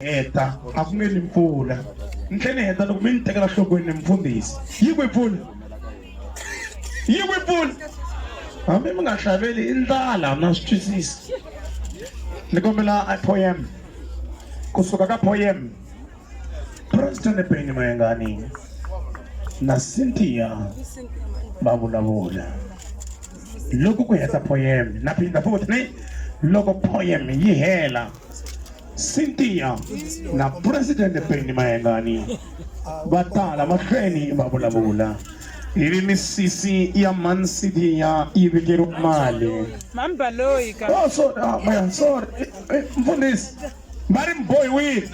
heta a ku nge ni mpfula ni tlhe ni heta loko mi ni tekela nhlokweni ni mfundhisi yi kwi mpfula yi kwi mpfula hambi mi nga xaveli i ndlala na swi twisisi ni kombela a poem kusuka ka poem president beni mayengani na cynthia va vulavula loko ku heta poem na phinda futhi ni loko poem yi hela Cynthia na Presidente Penny Mayengani va tala mahlweni va vulavula ivi misisi ya Man City ya yi vikeriwa mali mambaloyi ka oh, so, ah, man, sorry eh, eh, mfundhisi va ri mbohiwile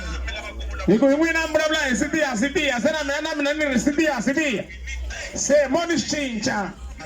hi ku hi n'wina mi vulavula hi sitiya sitiya se na mina na mina ni ri sitiya sitiya se mo ni swi cinca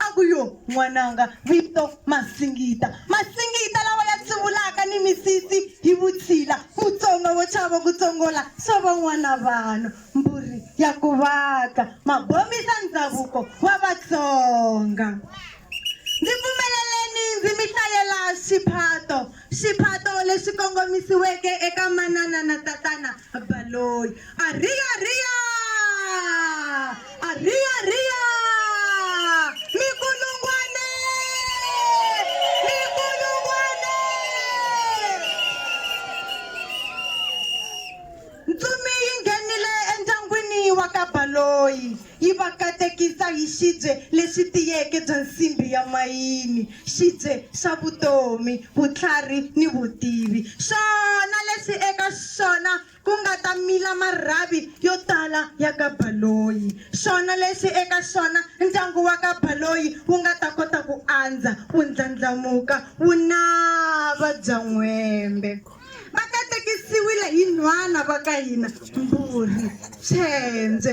A ku, Yoh, n'wananga, vito Masingita. Masingita lawa ya tsuvulaka ni misisi hi vutshila, Mutsonga wo chava ku tsongola swa van'wana vanhu, mbhurhi ya ku vaka mabomisa ndzavuko wa Vatsonga. Ndzi pfumeleleni ndzi mi hlayela xiphato Xiphato lexi kongomisiweke eka manana na tatana Baloyi. Ariya riya! Ariya riya! Mikulungwane! Mikulungwane! Ntsumi yi nghenile endyangwini wa ka Baloyi yi va katekisa hi xibye lexi tiyeke bya nsimbhi ya mayini, xibye xa vutomi, vutlhari ni vutivi, xona lexi eka xona ku nga ta mila marhavi yo tala ya ka Baloyi, xona lexi eka xona ndyangu wa ka Baloyi wu nga ta kota ku andza, wu ndlandlamuka, wu nava byan'wembe. va katekisiwile hi nhwana va ka hina Mbhuri Tshendze.